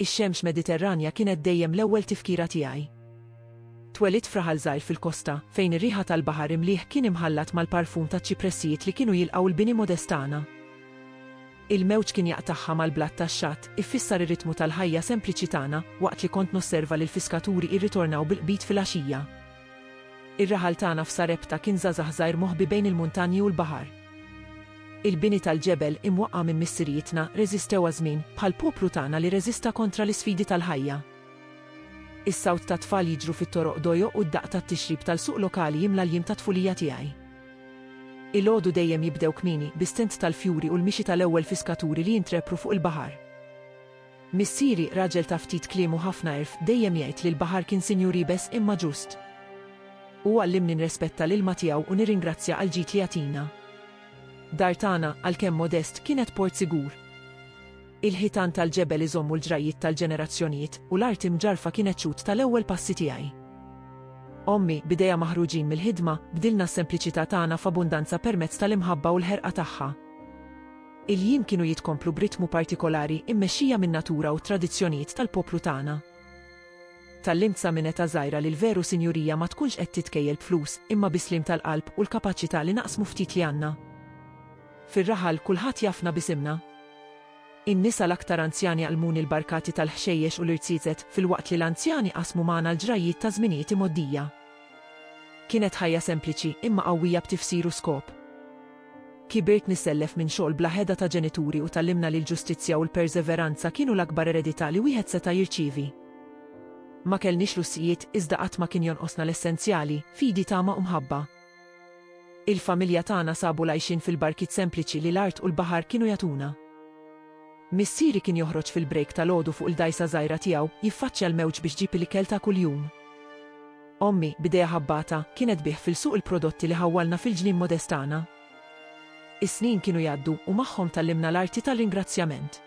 Ix-xemx Mediterranja kienet dejjem l-ewwel tifkira tiegħi. Twelidt f'raħal żgħir fil-kosta, fejn ir-riħa tal-baħar imlieh kien imħallat mal-parfum taċ-ċipressijiet li kienu jilqgħu l-bini modest tagħna. Il-mewġ kien jaqtagħha mal-blat tax-xatt, iffissar ir-ritmu tal-ħajja sempliċi tagħna, waqt li kont nosserva lill-fiskaturi jirritornaw bil-qbid filgħaxija. Ir-raħal tagħna f'Sarepta kien żgħażagħ żgħir moħbi bejn il-muntanji u l-baħar. Il-bini tal-ġebel, imwaqqa' minn missirijietna, reżistew għaż-żmien, bħall-poplu tagħna li reżista kontra l-isfidi tal-ħajja. Is-sawt tat-tfal jiġru fit-toroq dojoq u d-daqq tat-tixrib tal-suq lokali jimla l-jiem tat-tfulija tiegħi. Ilgħodu dejjem jibdew kmieni, bis-sent tal-fjuri u l-mixi tal-ewwel fiskaturi li jintrepru fuq il-baħar. Missieri, raġel ta' ftit kliem u ħafna għerf, dejjem jgħid li l-baħar kien sinjur iebes imma ġust. Hu għallimni nrespetta l-ilma tiegħu u nirringrazzja għall-ġid li jagħtina. Dar tagħna, għalkemm modest, kienet port sigur. Il-ħitan tal-ġebel iżommu l-ġrajjiet tal-ġenerazzjonijiet, u l-art imġarrfa kienet xhud tal-ewwel passi tiegħi. Ommi, b'idejha maħruġin mill-ħidma, bdilna s-sempliċità tagħna f'abbundanza permezz tal-imħabba u l-ħerqa tagħha. Il-jiem kienu jitkomplu b'ritmu partikolari mmexxija min-natura u t-tradizzjonijiet tal-poplu tagħna. Tgħallimt sa minn età żgħira li l-veru sinjurija ma tkunx qed titkejjel b'flus, imma bi sliem tal-qalb u l-kapaċità li naqsmu ftit li għandna. Fir-raħal, kulħadd jafna b'isimna. In-nisa l-aktar anzjani għallmuni l-barkati tal-ħxejjex u l-irziezet, filwaqt li l-anzjani qasmu magħna l-ġrajjiet ta' żminijiet imgħoddija. Kienet ħajja sempliċi imma qawwija b'tifsir u skop. Kibirt nisellef minn xogħol bla heda ta' ġenituri u tgħallimna li l-ġustizzja u l-perseveranza kienu l-akbar eredità li wieħed seta' jirċievi. Ma kellniex lussijiet, iżda qatt ma kien jonqosna l-essenzjali, fidi tama u mħabba. Il-familja tagħna sabu l-għajxien fil-barkiet sempliċi li l-art u l-baħar kienu jagħtuna. Missieri kien joħroġ fil-break tal-għodu fuq il-dgħajsa żgħira tiegħu, jiffaċċja l-mewġ biex ġib il-ikel ta' kuljum. Ommi, b'idejha ħabbata, kienet tbigħ fil-suq il-prodotti li ħawwalna fil-ġnien modest tagħna. Is-snin kienu jgħaddu, u magħhom tgħallimna l-arti tar-ringrazzjament.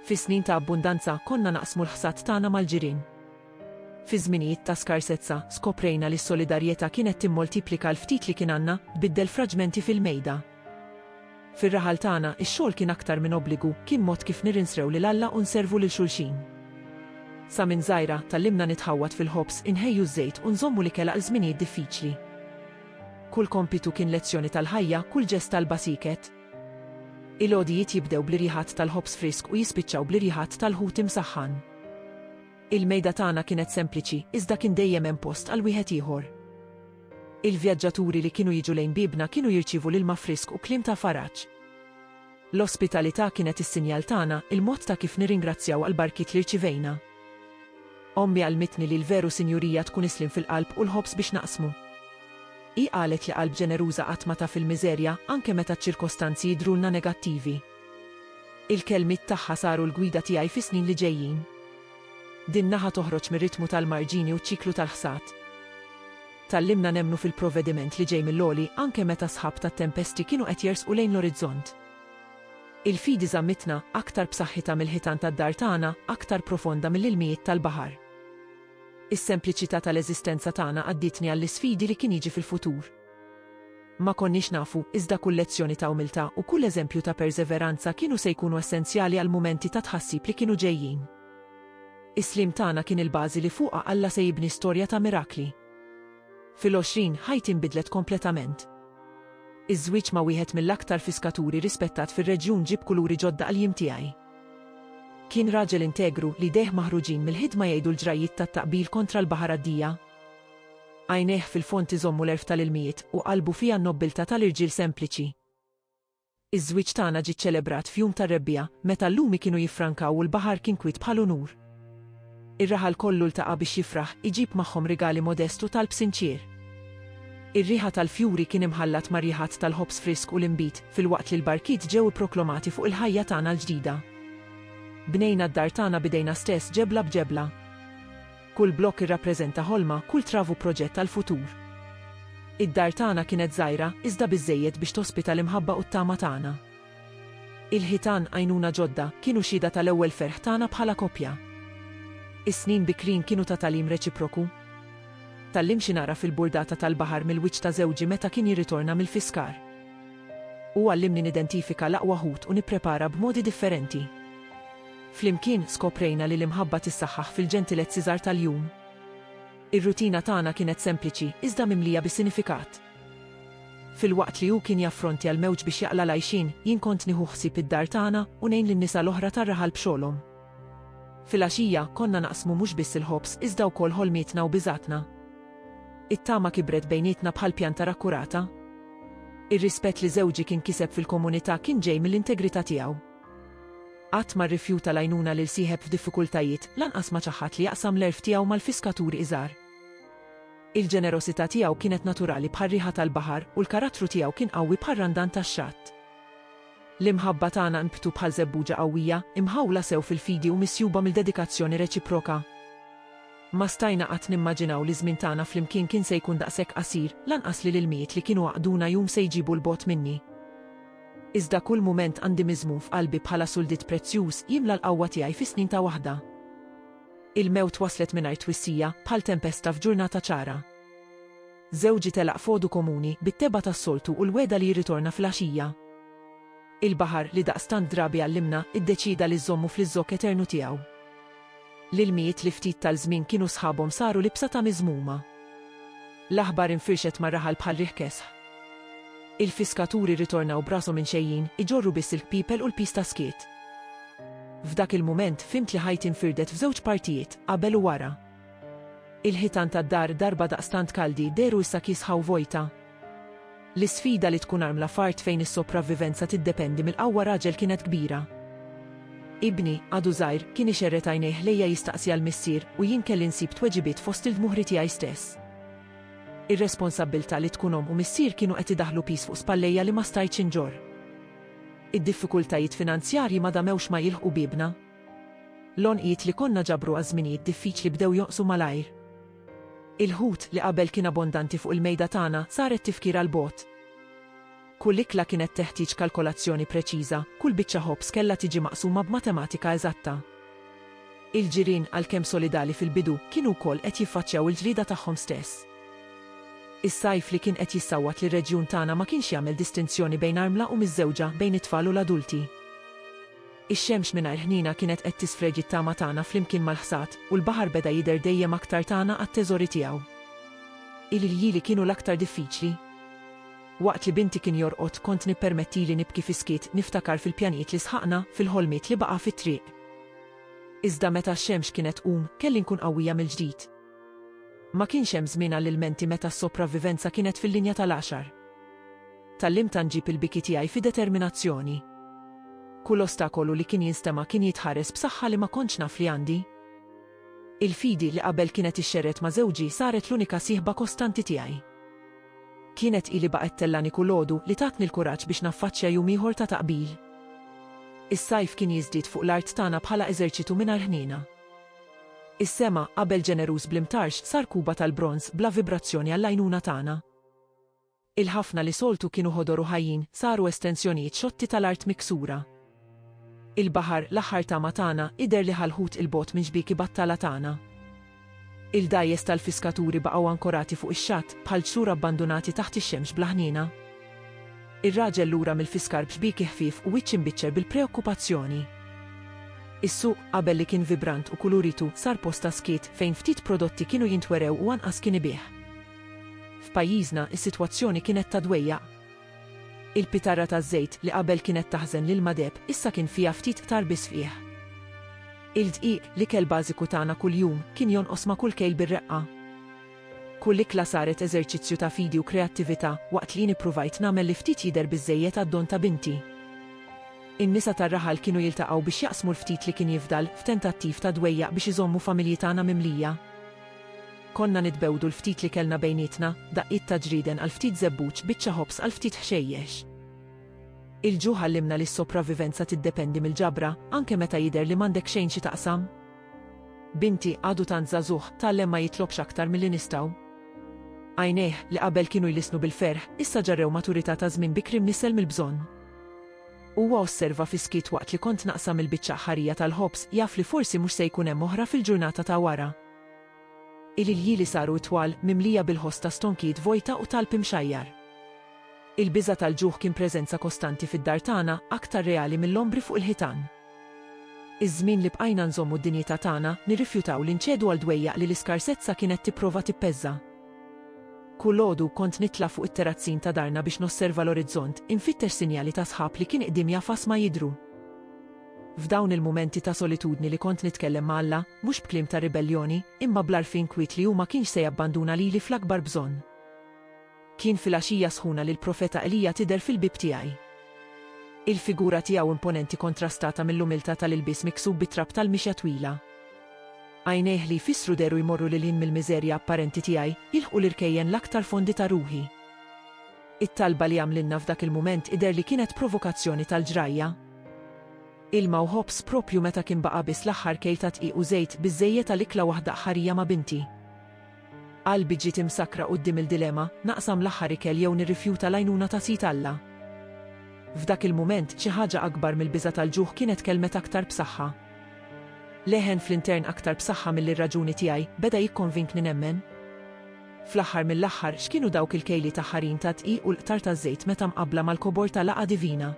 Fi snin ta' abbundanza, konna naqsmu l-ħsad tagħna mal-ġirien. Fi żminijiet ta' skarsezza, skoprejna li s-solidarjetà kienet timmoltiplika l-ftit li kien għandna, tbiddel fraġmenti fil-mejda. Fir-raħal tagħna, ix-xogħol kien aktar minn obbligu, kien mod kif nirinsrew lil Alla u nservu lil xulxin. Sa minn żgħira, tgħallimna nitħawwad fil-ħobż, inħejju ż-żejt u nżommu l-ikel għal żminijiet diffiċli. Kull kompitu kien lezzjoni tal-ħajja, kull ġest talba sieket. Il-għodijiet jibdew bl-irjiħat tal-ħobż frisk u jispiċċaw bl-irjiħat tal-ħut imsaħħan. Il-mejda tagħna kienet sempliċi, iżda kien dejjem hemm post għal wieħed ieħor. Il-vjaġġaturi li kienu jiġu lejn biebna kienu jirċievu l-ilma frisk u kliem ta' faraġ. L-ospitalità kienet is-sinjal tagħna, il-mod ta' kif nirringrazzjaw għall-barkiet li rċivejna. Ommi għallmitni li l-veru sinjurija tkun is-sliem fil-qalb u l-ħobż biex naqsmu. Hi qalet li qalb ġeneruża qatt ma taf il-miżerja, anke meta ċ-ċirkostanzi jidhrulna negattivi. Il-kelmiet tagħha saru l-gwida tiegħi fis-snin li ġejjin. Din naħa toħroġ mir-ritmu tal-marġini u ċ-ċiklu tal-ħsad. Tgħallimna nemmnu fil-provvediment li ġej mill-għoli anke meta s-sħab tat-tempesti kienu qed jersqu lejn l-orizzont. Il-fidi żammitna aktar b'saħħitha mill-ħitan tad-dar tagħna, aktar profonda mill-ilmijiet tal-baħar. Is-sempliċità tal-eżistenza tagħna għaddietni għall-isfidi li kien jiġi fil-futur. Ma konniex nafu, iżda kull lezzjoni ta' umiltà u kull eżempju ta' perseveranza kienu se jkunu essenzjali għall-mumenti ta' tħassib li kienu ġejjin. Is-sliem tagħna kien il-bażi li fuqha Alla se jibni storja ta' mirakli. Fil-għoxrin, ħajti nbidlet kompletament. Iż-żwieġ ma' wieħed mill-aktar fiskaturi rispettat fir-reġjun ġieb kuluri ġodda għall-jiem tiegħi. Kien raġel integru, li jdejh maħruġin mill-ħidma jgħidu l-ġrajjiet tat-taqbil kontra l-baħar għaddija. Għajnejh fil-fond iżommu l-għerf tal-ilmijiet u qalbu fiha n-nobbiltà tal-irġiel sempliċi. Iż-żwieġ tagħna ġie ċċelebrat f'jum tar-rebbiegħa, meta l-lumi kienu jiffrankaw u l-baħar kien kwiet bħal unur. Ir-raħal kollu ltaqa' biex jifraħ, iġib magħhom rigali modest u talb sinċier. Ir-riħa tal-fjuri kien imħallat ma' riħat tal-ħobż frisk u l-inbid, filwaqt li l-barkiet ġew ipproklomati fuq il-ħajja tagħna l-ġdida. Bnejna d-dar tagħna b'idejna stess ġebla b'ġebla. Kull blokk irrappreżenta ħolma, kull travu proġett għall-futur. Id-dar tagħna kienet żgħira, iżda biżżejjed biex tospita l-imħabba u t-tama tagħna. Il-ħitan, għajnuna ġodda, kienu xhieda tal-ewwel ferħ tagħna bħala koppja. Is-snin bikrin kienu ta' tagħlim reċiproku. Tgħallimt xi nagħraf il-burdata tal-baħar mill-wiċċ ta' żewġi meta kien jirritorna mill-fiskar. Hu għallimni nidentifika l-aqwa ħut u nipprepara b'modi differenti. Flimkien skoprejna li l-imħabba tissaħħaħ fil-ġentilezzi żgħar tal-jum. Ir-rutina tagħna kienet sempliċi iżda mimlija bi sinifikat. Filwaqt li hu kien jaffrontja l-mewġ biex jaqla' l-għajxien, jien kont nieħu ħsieb id-dar tagħna u ngħin lin-nisa l-oħra tar-raħal b'xogħolhom. Filgħaxija, konna naqsmu mhux biss il-ħobż iżda wkoll ħolmietna u biżgħatna. It-tama kibret bejnietna bħal pjanta rakkurata. Ir-rispett li żewġi kien kiseb fil-komunità kien ġej mill-integrità tiegħu. Qatt ma rrifjuta l-għajnuna lil sieħeb f'diffikultajiet, lanqas ma ċaħħad li jaqsam l-għerf tiegħu mal-fiskaturi iżgħar. Il-ġenerosità tiegħu kienet naturali bħar-riħa tal-baħar u l-karattru tiegħu kien qawwi bħar-randan tax-xatt. L-imħabba tagħna nbtu bħal żebbuġa qawwija, imħawla sew fil-fidi u misjuba mill-dedikazzjoni reċiproka. Ma stajna qatt nimmaġinaw li ż-żmien tagħna flimkien kien se jkun daqshekk qasir, lanqas li l-ilmijiet li kienu għaqqduna jum se jġibu 'l bogħod minni. Iżda kull mument għandi miżmum f'qalbi bħala suldit prezzjuż jimla l-qawwa tiegħi fi snin ta' waħda. Il-mewt waslet mingħajr twissija, bħal tempesta f'ġurnata ċara. Żewġi telaq f'għodu komuni, bit-tebgħa tas-soltu u l-wegħda li jirritorna fil-għaxija. Il-baħar, li daqstant drabi għallimna, iddeċieda li żżommu fl-iżżokk eternu tiegħu. L-ilmijiet li ftit tal-żmien kienu sħabhom saru libsa ta' miżmuma. L-aħbar infirxet mar-raħal bħal riħ kesħ. Il-fiskaturi rritornaw b'rashom inxejjin, iġorru biss il-kpipel u l-piż ta' skiet. F'dak il-mument fhimt li ħajti nfirdet f'żewġ partijiet, qabel u wara. Il-ħitan tad-dar darba daqstant kaldi dehru issa kiesħa u vojta. L-isfida li tkun armla f'art fejn is-sopravvivenza tiddependi mill-qawwa raġel kienet kbira. Ibni, għadu żgħir, kien ixerred għajnejh ħlejja jistaqsi għal missier u jien kelli nsib tweġibiet fost il-dmuħri tiegħi stess. Ir-responsabbiltà li tkun omm u missier kienu qed idaħħlu piż fuq spallejja li ma stajtx inġorr. Id-diffikultajiet finanzjarji ma damewx ma jilħqu biebna. L-għonqiet li konna ġabru għaż-żminijiet diffiċli bdew jonqsu malajr. Il-ħut li qabel kien abbondanti fuq il-mejda tagħna sar qed tifkira 'l bogħod. Kull ikla kienet teħtieġ kalkolazzjoni preċiża, kull biċċa ħobż kellha tiġi maqsuma b'matematika eżatta. Il-ġirien, għalkemm solidali fil-bidu, kienu wkoll qed jiffaċċjaw il-ġrieda tagħhom stess. Is-sajf li kien qed jissawwat lir-reġjun tagħna ma kienx jagħmel distinzjoni bejn armla u miżżewġa, bejn it-tfal u l-adulti. Ix-xemx mingħajr ħniena kienet qed tisfreġ it-tama tagħna flimkien mal-ħsad, u l-baħar beda jidher dejjem aktar tagħna għat-teżori tiegħu. Il-ljieli kienu l-aktar diffiċli. Waqt li binti kien jorqod, kont nippermettili nibki fis-skiet, niftakar fil-pjanijiet li sħaqna, fil-ħolmiet li baqa' fit-triq. Iżda meta x-xemx kienet tqum, kelli nkun qawwija mill-ġdid. Ma kienx hemm żmien għall-ilmenti meta s-sopravvivenza kienet fil-linja tal-għaxar. Tgħallimt anġib il-biki tiegħi fi determinazzjoni. Kull ostakolu li kien jinstema' kien jitħares b'saħħa li ma kontx naf li għandi. Il-fidi li qabel kienet ixxerred ma' żewġi saret l-unika sieħba kostanti tiegħi. Kienet hi li baqgħet tellani kull għodu li tatni l-kuraġġ biex naffaċċja jum ieħor ta' taqbil. Is-sajf kien jiżdied fuq l-art tagħna bħala eżerċitu mingħajr ħniena. Is-sema, qabel ġeneruż bl-imtarx, sar kuba tal-bronż bla vibrazzjoni għall-għajnuna tagħna. Il-ħafna li soltu kienu ħodor u ħajjin saru estensjonijiet xotti tal-art miksura. Il-baħar, l-aħħar tama tagħna, idher li ħa l-ħut 'il bogħod minn xbieki battala tagħna. Il-dgħajjes tal-fiskaturi baqgħu ankorati fuq ix-xatt, bħal ġsur abbandunati taħt ix-xemx bla ħniena. Ir-raġel lura mill-fiskar b'xbieki ħfief u wiċċ imbiċċer bil-preokkupazzjoni. Is-suq, qabel li kien vibrant u kuluritu, sar post ta' skiet, fejn ftit prodotti kienu jintwerew u anqas kien ibigħ. F'pajjiżna, is-sitwazzjoni kienet ta' dwejjaq. Il-pitarra taż-żejt, li qabel kienet taħżen l-ilma deheb, issa kien fiha ftit qtar biss fqigħ. Il-dqiq, l-ikel bażiku tagħna kuljum, kien jonqos ma' kull kejl bir-reqqa. Kull ikla saret eżerċizzju ta' fidi u kreattività, waqt li jien ippruvajt nagħmel li ftit jidher biżżejjed għad-don ta' binti. In-nisa tar-raħal kienu jiltaqgħu biex jaqsmu l-ftit li kien jifdal, f'tentattiv ta' dwejjaq biex iżommu familji tagħna mimlija. Konna nitbewdu l-ftit li kellna bejnietna, daqqiet ta' ġrieden għal ftit żebbuġ, biċċa ħobż għal ftit ħxejjex. Il-ġuħ għallimna li s-sopravivenza tiddependi mill-ġabra, anke meta jidher li m'għandek xejn xi taqsam. Binti, għadu tant żagħżugħ, tgħallem ma jitlobx aktar milli nistgħu. Għajnejh, li qabel kienu jlissnu bil-ferħ, issa ġarrew maturità ta' żmien bikri mnissel mill-bżonn. Huwa osserva fis-skiet waqt li kont naqsam il-biċċa aħħarija tal-ħobż, jaf li forsi mhux se jkun hemm oħra fil-ġurnata ta' wara. Il-iljieli saru itwal, mimlija bil-ħoss ta' stonkijiet vojta u talb imxajjar. Il-biża' tal-ġuħ kien preżenza kostanti fid-dar tagħna, aktar reali mill-ombri fuq il-ħitan. Iż-żmien li bqajna nżommu d-dinjità tagħna, nirrifjutaw li nċedu għal dwejjaq li l-iskarsezza kienet tipprova tippeżża. Kulgħodu, kont nitla' fuq it-terazzin ta' darna biex nosserva l-orizzont, infittex sinjali ta' sħab li kien qdiem jafas ma jidhru. F'dawn il-mumenti ta' solitudni li kont nitkellem ma' Alla, mhux b'kliem ta' ribelljoni, imma bl-għarfien kwiet li hu ma kienx se jabbanduna lili fl-akbar bżonn. Kien filgħaxija sħuna li l-profeta Elija tidher fil-bieb tiegħi. Il-figura tiegħu imponenti kontrastata mill-umiltà tal-ilbies miksub bit-trab tal-mixja twila. Għajnejh li jfissru dehru jmorru lil hinn mill-miżerja apparenti tiegħi, jilħqu l-irkejjen l-aktar fondi ta' ruħi. It-talba li għamlilna f'dak il-mument idher li kienet provokazzjoni tal-ġrajja. Ilma u ħobż proprju meta kien baqa' biss l-aħħar kejl ta' dqiq u żejt biżżejjed għal ikla waħda aħħarija ma' binti. Qalbi ġiet imsakkra quddiem il-dilema, naqsam l-aħħar ikel jew nirrifjuta l-għajnuna ta' Sid Alla? F'dak il-mument, xi ħaġa akbar mill-biża' tal-ġuħ kienet tkellmet aktar b'saħħa. Leħen fl-intern aktar b'saħħa milli r-raġuni tiegħi, beda jikkonvinkni nemmen. Fl-aħħar mill-aħħar, x'kienu dawk il-kejliet aħħarin tad-dqiq u l-qtar taż-żejt meta mqabbla mal-kobor ta' laqgħa divina?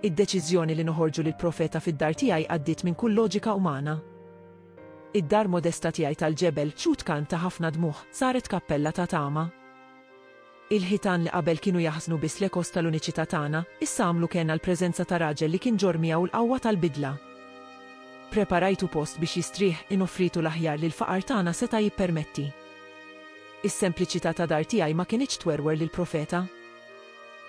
Id-deċiżjoni li noħorġu lill-profeta fid-dar tiegħi għaddiet minn kull loġika umana. Id-dar modesta tiegħi tal-ġebel, xhud kant ta' ħafna dmugħ, saret kappella ta' tama. Il-ħitan li qabel kienu jaħżnu biss l-ekos tal-uniċità tagħna, issa għamlu kenn għall-preżenza ta' raġel li kien ġorr miegħu l-qawwa tal-bidla. Ppreparajtu post biex jistrieħ, inoffritu l-aħjar li l-faqar tagħna seta' jippermetti. Is-sempliċità ta' dar tiegħi ma kinitx twerwer lill-profeta.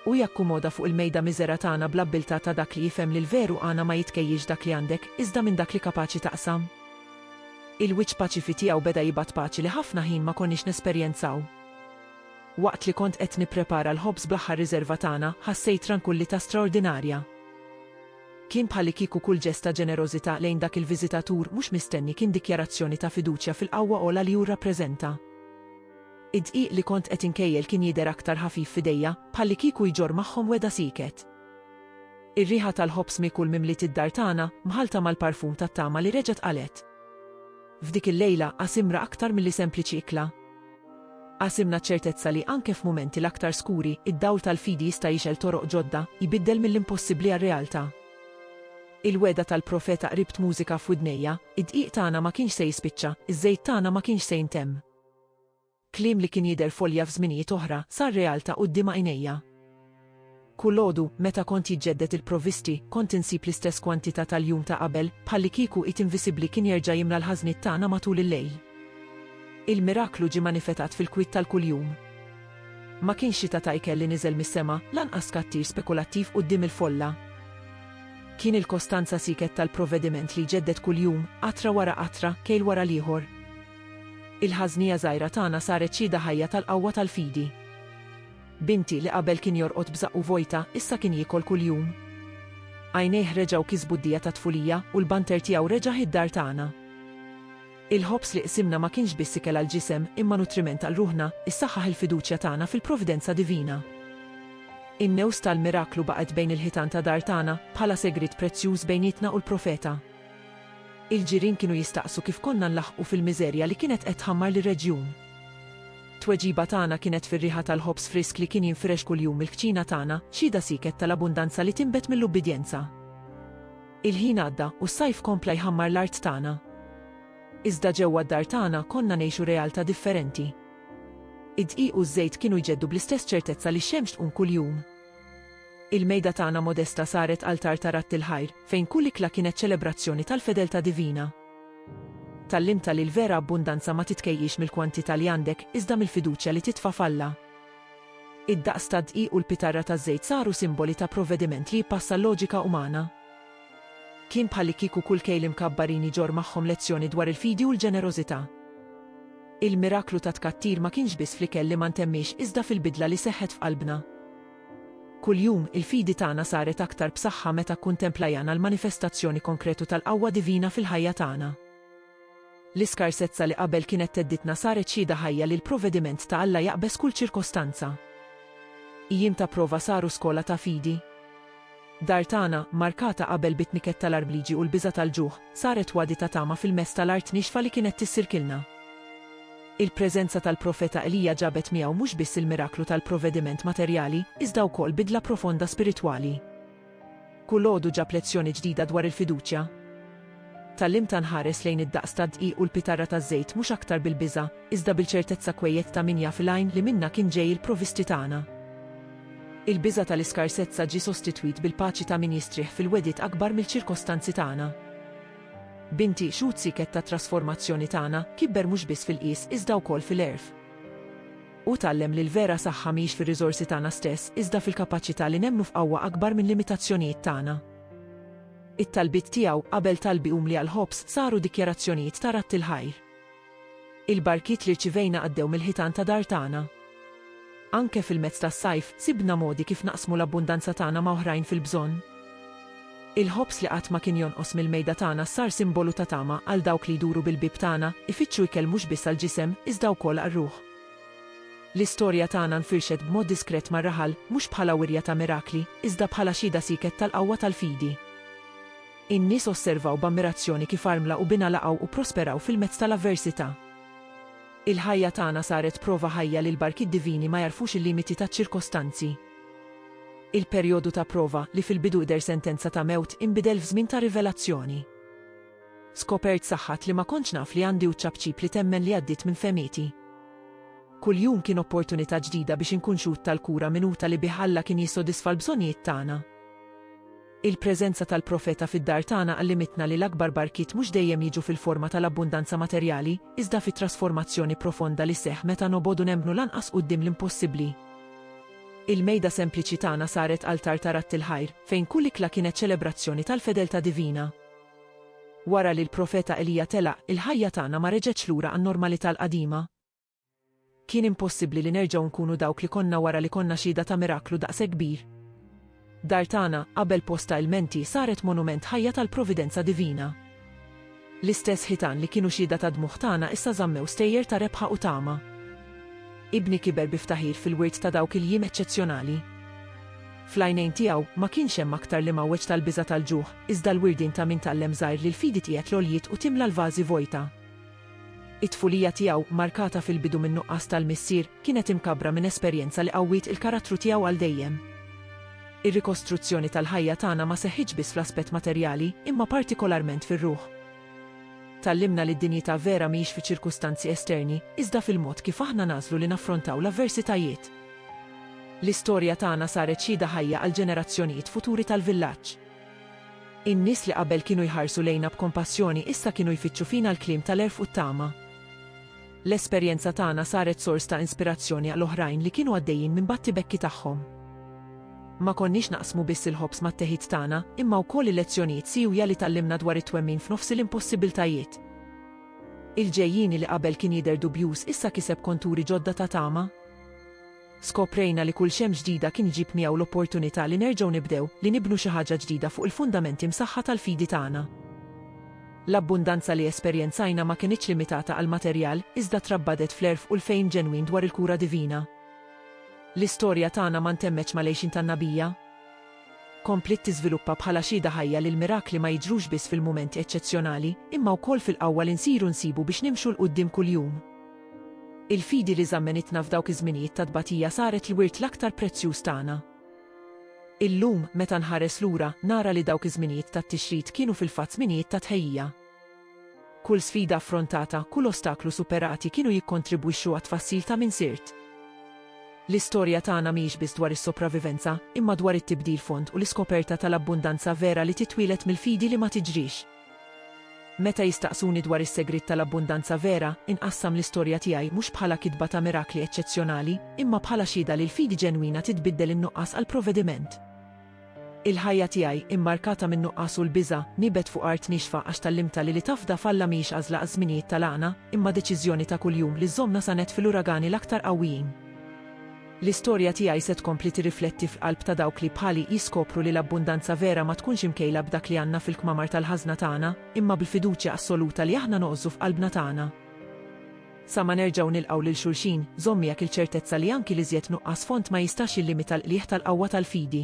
Hu jakkumoda fuq il-mejda miżera tagħna bl-abbiltà ta' dak li jifhem li l-veru għana ma jitkejjilx dak li għandek, iżda minn dak li kapaċi taqsam. Il-wiċċ paċifi tiegħu beda jibgħat paċi li ħafna ħin ma konniex nesperjenzaw. Waqt li kont qed nipprepara l-ħobż bl-aħħar riżerva tagħna, ħassejt trankullità straordinarja. Kien bħalikieku kull ġest ta' ġenerożità lejn dak il-viżitatur mhux mistenni kien dikjarazzjoni ta' fiduċja fil-qawwa ogħla li hu rrappreżenta. Id-dqiq li kont qed inkejjel kien jidher aktar ħafif f'idejja, bħallikieku jġorr magħhom wegħda sieket. Ir-riħa tal-ħobż miekul mimliet id-dar tagħna, mħallta mal-parfum tat-tama li reġgħet qalgħet. F'dik il-lejla, qasimra aktar milli sempliċi ikla. Qasimna ċ-ċertezza li anke f'mumenti l-aktar skuri, id-dawl tal-fidi jista' jixgħel toroq ġodda, jbiddel mill-impossibbli għar-realtà. Il-wegħda tal-profeta qribt mużika f'widnejja, Id-dqiq tagħna ma kienx se jispiċċa, iż-żejt tagħna ma kienx se jintemm. Kliem li kien jidher folja f'żminijiet oħra, sar realtà quddiem għajnejja. Kulgħodu, meta kont jiġġedded il-provvisti, kont insib l-istess kwantità tal-jum ta' qabel, bħallikieku id invisibbli kien jerġa' jimla l-ħażniet tagħna matul il-lejl. Il-miraklu ġie manifetat fil-kwiet tal-kuljum. Ma kienx xita ta' ikel li niżel mis-sema, lanqas tkattir spekulattiv quddiem il-folla. Kien il-kostanza siket tal-provvediment li jġedded kuljum, qatra wara qatra, kejl wara l-ieħor. Il-ħażnija żgħira tagħna saret xhieda ħajja tal-qawwa tal-fidi. Binti li qabel kien jorqod b'żaqqu vojta, issa kien jiekol kuljum. Għajnejh reġgħu kisbu d-dija tat-tfulija u l-banter tiegħu reġa' ħi d-dar tagħna. Il-ħobż li qsimna ma kienx biss ikel għall-ġisem imma nutriment għal ruħna, issaħħaħ il-fiduċja tagħna fil-provvidenza divina. In-news tal-miraklu baqgħet bejn il-ħitan ta' dar tagħna, bħala segriet prezzjuż bejnietna u l-profeta. Il-ġirien kienu jistaqsu kif konna nlaħħqu fil-miżerja li kienet qed tħammar lir-reġjun. Tweġiba tagħna kienet fir-riħa tal-ħobż frisk li kien jinfirex kuljum mill-kċina tagħna, xhieda sieket tal-abbundanza li tinbet mill-ubbidjenza. Il-ħin għadda, u s-sajf kompla jħammar l-art tagħna. Iżda ġewwa d-dar tagħna konna ngħixu realtà differenti. Id-dqiq u ż-żejt kienu jġeddu bl-istess ċertezza li x-xemx tqum kuljum. Il-mejda tagħna modesta saret altar ta' radd il-ħajr, fejn kull ikla kienet ċelebrazzjoni tal-fedeltà divina. Tgħallimtha li l-vera abbundanza ma titkejjilx mill-kwantità li għandek, iżda mill-fiduċja li titfa' f'Alla. Id-daqs tad-dqiq u l-pitarra taż-żejt saru simboli ta' provvediment li jippassa l-loġika umana. Kien bħallikieku kull kejl imkabbarin iġorr magħhom lezzjoni dwar il-fidi u l-ġenerożità. Il-miraklu tat-tkattir ma kienx biss fl-ikel li ma ntemmiex iżda fil-bidla li seħħet f'qalbna. Kuljum, il-fidi tagħna saret aktar b'saħħa meta kkuntemplajana l-manifestazzjoni konkretu tal-qawwa divina fil-ħajja tagħna. L-iskarsezza li qabel kienet theddidna saret xhieda ħajja li l-provvediment ta' Alla jaqbeż kull ċirkostanza. Ijiem ta' prova saru skola ta' fidi. Dar tagħna, markata qabel bit-tniket tal-arbliġi u l-biża' tal-ġuħ, saret wadi ta' tama fil-mezz tal-art nixfa li kienet tissirkilna. Il-preżenza tal-Profeta Elija ġabet miegħu mhux biss il-miraklu tal-provvediment materjali, iżda wkoll bidla profonda spiritwali. Kull għodu ġab lezzjoni ġdida dwar il-fiduċja. Tgħallimta nħares lejn id-daqs tad-dqiq u l-pitarra taż-żejt mhux aktar bil-biża', iżda bil-ċertezza kwejjed ta' min jaf il-għajn li minnha kien ġej il-provisti tagħna. Il-biża' tal-iskarsezza ġie sostitwit bil-paċi ta' min jistrieħ fil-wegħdiet akbar mill-ċirkostanzi tagħna. Binti, xhud sieket tat-trasformazzjoni tagħna, kibber mhux biss fil-qies iżda wkoll fil-għerf. Hu tgħallem li l-vera saħħa mhix fir-riżorsi tagħna stess iżda fil-kapaċità li nemmnu f'qawwa akbar minn limitazzjonijiet tagħna. It-talbiet tiegħu qabel talbi umli għall-ħobż saru dikjarazzjonijiet ta' radd il-ħajr. Il-barkiet li rċivejna għaddew mill-ħitan ta' dar tagħna. Anke fil-mezz tas-sajf, sibna modi kif naqsmu l-abbundanza tagħna ma' oħrajn fil-bżonn. Il-ħobż li qatt ma kien jonqos mill-mejda tagħna sar simbolu ta' tama għal dawk li jduru bil-bieb tagħna, ifittxu ikel mhux biss għall-ġisem, iżda wkoll għar-ruħ. L-istorja tagħna nfirxet b'mod diskret mar-raħal, mhux bħala wirja ta' mirakli, iżda bħala xhieda sieket tal-qawwa tal-fidi. In-nies osservaw b'ammirazzjoni kif armla u binha laqgħu u pprosperaw fil-mezz tal-avversità. Il-ħajja tagħna saret prova ħajja li l-barkiet divini ma jagħrfux il-limiti taċ-ċirkostanzi. Il-perjodu ta' prova, li fil-bidu idher sentenza ta' mewt, inbidel f'żmien ta' rivelazzjoni. Skopert saħħat li ma kontx naf li għandi u ċ-ċapċip li temmen li għaddiet minn fehmieti. Kull jum kien opportunità ġdida biex inkun xhud tal-kura minuta li bih Alla kien jissodisfa l-bżonnijiet tagħna. Il-preżenza tal-profeta fid-dar tagħna għallimitna li l-akbar barkiet mhux dejjem jiġu fil-forma tal-abbundanza materjali, iżda fit-trasformazzjoni profonda li sseħħ meta nobogħdu nemmnu lanqas quddiem l-impossibbli. Il-mejda sempliċi tagħna saret altar ta' ratt il-ħajr, fejn kull ikla kienet ċelebrazzjoni tal-fedeltà divina. Wara li l-Profeta Elija telaq, il-ħajja tagħna ma reġgħetx lura għan-normalità l-qadima. Kien impossibbli li nerġgħu nkunu dawk li konna wara li konna xhieda ta' miraklu daqshekk kbir. Dar tagħna, qabel post ta' ilmenti, saret monument ħajja tal-providenza divina. L-istess ħitan li kienu xhieda tad-dmugħ tagħna issa żammew stejjer ta' rebħa u tama. Ibni kiber bi ftaħir fil-wirt ta' dawk il-jiem eċċezzjonali. Fl-għajnejn tiegħu ma kienx hemm aktar l-imgħawweġ tal-biża' tal-ġuħ, iżda l-wirdien ta' min tgħallem żgħir li l-fidi tqiegħed l-għoljiet u timla l-vażi vojta. It-tfulija tiegħu, markata fil-bidu min-nuqqas tal-missier, kienet imkabbra minn esperjenza li qawwiet il-karattru tiegħu għal dejjem. Ir-rikostruzzjoni tal-ħajja tagħna ma seħħitx biss fl-aspett materjali, imma partikolarment fir-ruħ. Tgħallimna li d-dinjità vera mhijiex fiċ-ċirkustanzi esterni, iżda fil-mod kif aħna nagħżlu li naffrontaw l-avversitajiet. L-istorja tagħna saret xhieda ħajja għall-ġenerazzjonijiet futuri tal-villaġġ. In-nies li qabel kienu jħarsu lejna b'kompassjoni issa kienu jfittxu fina l-kliem tal-għerf u t-tama. L-esperjenza tagħna saret sors ta' inspirazzjoni għal oħrajn li kienu għaddejjin minn battibekki tagħhom. Ma konniex naqsmu biss il-ħobż mat-teħid tagħna, imma wkoll il-lezzjonijiet siewja li tgħallimna dwar it-twemmin f'nofs il-impossibbiltajiet. Il-ġejjieni li qabel kien jidher dubjuż issa kiseb konturi ġodda ta' tama. Skoprejna li kull xemx ġdida kien iġib miegħu l-opportunità li nerġgħu nibdew, li nibnu xi ħaġa ġdida fuq il-fundamenti msaħħa tal-fidi tagħna. L-abbundanza li esperjenzajna ma kinitx limitata għall-materjal, iżda trabbadet fl-għerf u l-fehim ġenwin dwar il-kura divina. L-istorja tagħna ma ntemmetx mal-għixien tan-nabija. Kompliet tiżviluppa bħala xhieda ħajja li l-mirakli ma jiġrux biss fil-mumenti eċċezzjonali, imma wkoll fil-qawwa li nsiru nsibu biex nimxu 'l quddiem kuljum. Il-fidi li żammenitna f'dawk iż-żminijiet ta' tbatija saret l-wirt l-aktar prezzjuż tagħna. Illum, meta nħares lura, nara li dawk iż-żminijiet tat-tixrid kienu fil-fatt żminijiet ta' tħejjija. Kull sfida affrontata, kull ostaklu superati kienu jikkontribwixxu għat-tfassil ta' min sirt. L-istorja tagħna mhijiex biss dwar is-sopravivenza, imma dwar it-tibdil fond u l-iskoperta tal-abbundanza vera li titwieled mill-fidi li ma tiġrix. Meta jistaqsuni dwar is-segriet tal-abbundanza vera, inqassam l-istorja tiegħi mhux bħala kitba ta' mirakli eċċezzjonali, imma bħala xhieda li l-fidi ġenwina titbiddel in-nuqqas għal provvediment. Il-ħajja tiegħi, immarkata min-nuqqas u l-biża', nibet fuq art niexfa għax tgħallimtha li li tafda f'Alla mhijiex għażla għaż-żminijiet tal-għana, imma deċiżjoni ta' kuljum li żżommna sa nett fil-uragani l-aktar qawwijin. L-istorja tiegħi se tkompli tirrifletti fl-qalb ta' dawk li, bħali, jiskopru li l-abbundanza vera ma tkunx imkejla b'dak li għandna fil-kmamar tal-ħażna tagħna, imma bil-fiduċja assoluta li aħna noqżu f'qalbna tagħna. Sa ma nerġgħu nilqgħu lil xulxin, żomm miegħek il-ċertezza li anki l-iżjed nuqqas fond ma jistax jillimita l-qligħ tal-qawwa tal-fidi.